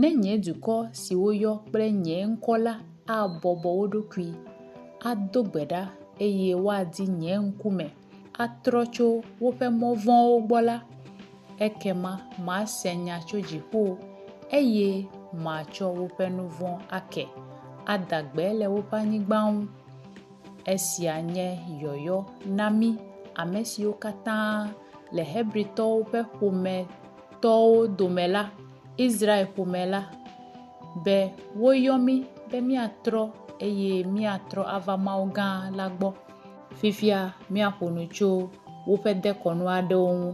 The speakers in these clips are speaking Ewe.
Ne nye dukɔ si woyɔ kple nye ŋkɔ la abɔbɔ wo ɖokui, ado gbe ɖa, eye woadi nye ŋkume, atrɔ tso woƒe mɔ vɔ̃wo gbɔ la, ekema mase nya tso dziƒo, eye matsɔ woƒe nu vɔ̃ ake, ada gbe le woƒe anyigba ŋu. Esia nye yɔyɔ na mí, ame siwo katã le Hebritɔwo ƒe ƒome tɔwo dome la, Israel ƒome la, be woyɔ mí be míatrɔ eye míatrɔ ava Mawu gã la gbɔ. Fifia míaƒo nu tso woƒe dekɔnu aɖewo ŋu.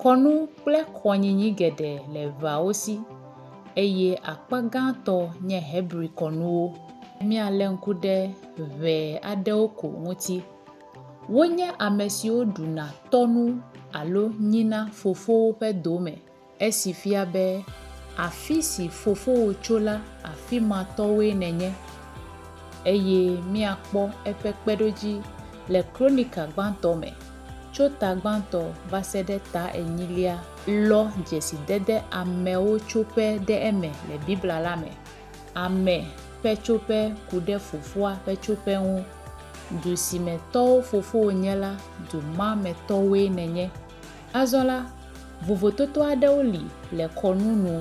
Kɔnu kple kɔnyinyi geɖe le eveawo si, eye akpa gãtɔ nye Hebri kɔnuwo. Míalé ŋku ɖe ŋee aɖewo ko ŋuti. Wonye ame siwo ɖuna tɔnu alo nyina fofowo ƒe dome, esi fia be afi si fofowò tso la afi ma tɔwoe nènye. Eye míakpɔ eƒe kpeɖodzi le Kronika gbãtɔ me, tso ta gbãtɔ va se ɖe ta enyilia. Lɔ dzesidede amewo tso ƒe ɖe eme le Biblia la me. ame ƒe tsoƒe ku ɖe fofoa ƒe tsoƒe ŋu. Du si me tɔwo fofowo nye la, du ma me tɔwoe nènye. Azɔ la, vovototo aɖewo li le kɔnu nu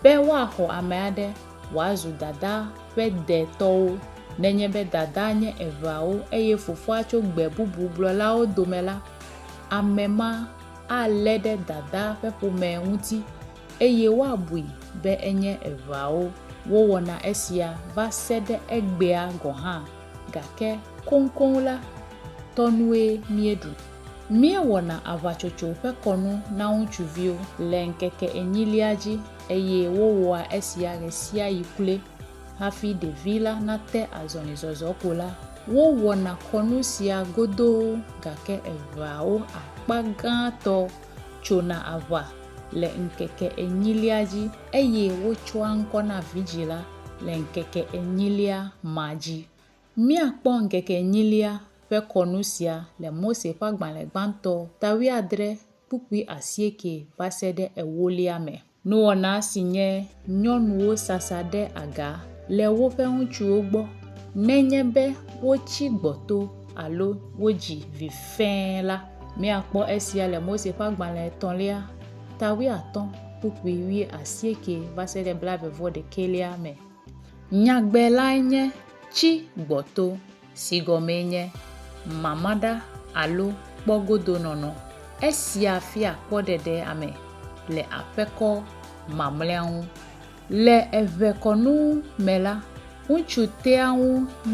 be woaxɔ ame aɖe wòazu dadaa ƒe de tɔwo. Nenye be dadaa nye eveawo eye fofoa tso gbe bubu gblɔlawo dome la, ame ma alé ɖe dadaa ƒe ƒomea ŋuti. eye woabui be enye eveawo wowɔna esia va se ɖe egbea gɔ̃ hã, gake koŋkoŋ la, tɔnue míeɖu. Míewɔna aʋatsotso ƒe kɔnu na ŋutsuviwo le ŋkeke enyilia dzi, eye wowɔa esia ɣesiaɣi kloe. Hafi ɖevi la nate azɔlizɔzɔ ko la, wowɔna kɔnu sia godoo, gake eveawo akpa gãtɔ tsona aʋa le ŋkeke enyilia dzi, eye wotsɔa ŋkɔ na vidzĩ la le ŋkeke enyilia ma dzi. Míakpɔ ŋkeke enyilia ƒe kɔnu sia le Mose ƒe agbalẽ gbãtɔ, ta wuiadre, kpukpui asieke vaseɖe ewolia me. Nuwɔna si nye nyɔnuwo sasa ɖe aga le woƒe ŋutsuwo gbɔ nenye be wotsi gbɔto alo wodzi vi fẽe la, míakpɔ esia le Mose ƒe Agbalẽ Etɔ̃lia, ta wuiatɔ̃, kpukpui wuiasieke va se ɖe blaeve-vɔ-ɖekɛlia me. Nyagbe lae nye, Tsi gbɔto. si gɔmee nye mamaɖa alo kpɔgodonɔnɔ. Esia fia kpɔɖeɖe ame le aƒekɔ mamlɛa ŋu. Le eŋekɔnu me la, ŋutsu tea ŋu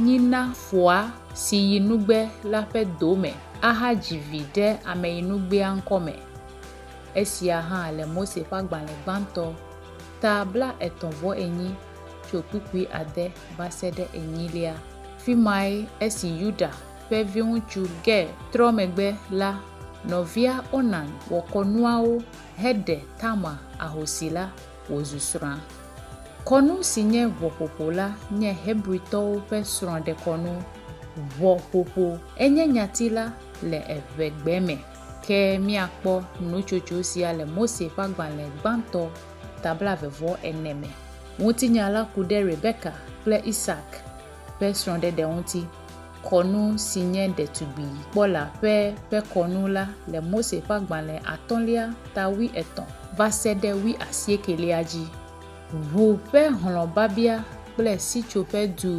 nyina foa si yi nugbe la ƒe do me ahadzi vi ɖe ameyinugbea ŋkɔ me. Esia hã le Mose ƒe agbalẽ gbãtɔ, ta blaetɔ̃-vɔ-enyi. tso kpukpui ade va se ɖe enyilia. Afi mae esi Yuda ƒe viŋutsu Ger trɔ megbe la, nɔvia Onan wɔ kɔnuawo heɖe Tamar ahosi la wòzu srɔ̃a. Kɔnu si nye ʋɔƒoƒo la nye Hebritɔwo ƒe srɔ̃ɖekɔnu. Ʋɔƒoƒo enye nyati la le eŋegbe me. Ke míakpɔ nutsotso sia le Mose ƒe agbalẽ gbãtɔ ta blaeve vɔ ene me. Ŋutinya la ku ɖe Rebeka kple Isak ƒe srɔ̃ɖeɖe ŋuti. Kɔnu si nye Ɖetugbi Kpɔla ƒe ƒe kɔnu la le Mose ƒe agbalẽ atɔ̃lia ta wuietɔ̃ va se ɖe wuiasiekelia dzi. Ʋu ƒe hlɔ̃babia kple Sitsoƒe Du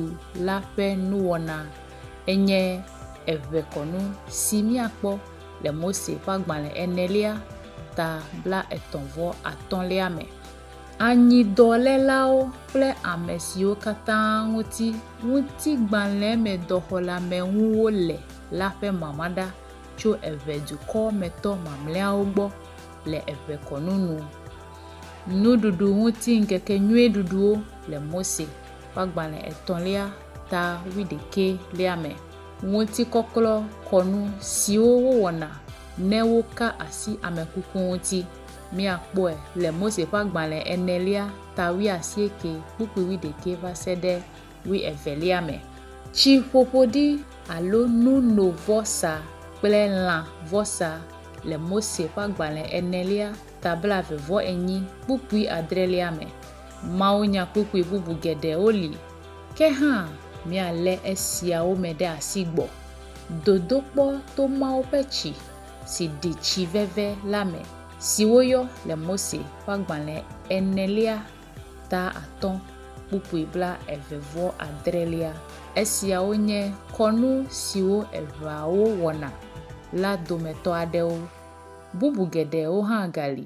la ƒe Nuwɔna enye eʋekɔnu si míakpɔ. le Mose ƒe agbalẽ enelia ta bla etɔ̃ vɔ atɔ̃lia me. Anyidɔlelawo kple ame siwo katã ŋuti ŋutigbalẽmedɔxɔleameŋuwo le la ƒe mama ɖa tso eve dukɔ me tɔ mamlɛawo gbɔ le eve kɔnu nu. Nuɖuɖu ŋuti ŋkekenyuie ɖuɖuwo le Mose ƒe agbalẽ etɔ̃lia ta wuiɖekɛ lia me. ŋutikɔklɔ kɔnu siwo wowɔna ne woka asi ame kuku ŋuti. Miakpɔe le Mose ƒe agbalẽ enelia, ta wuiasieke, kpukpui wuiɖekɛ va se ɖe wuievelia me. Tsiƒoƒoɖi alo nunovɔsa kple lã vɔsa le Mose ƒe agbalẽ enelia, ta blaeve-vɔ-enyi, kpukpui adrelia me. Mawunyakpukpui bubu geɖewo li Ke hã, míalé esiawo me ɖe asi gbɔ dodokpɔ to Mawu ƒe tsi si ɖi tsi veve la me si woyɔ le Mose ƒe agbalẽ enelia ta atɔ̃ kpukpui bla eve vɔ adrelia. Esiawo nye kɔnu siwo eʋeawo wɔna la dometɔ aɖewo. Bubu geɖewo hã gali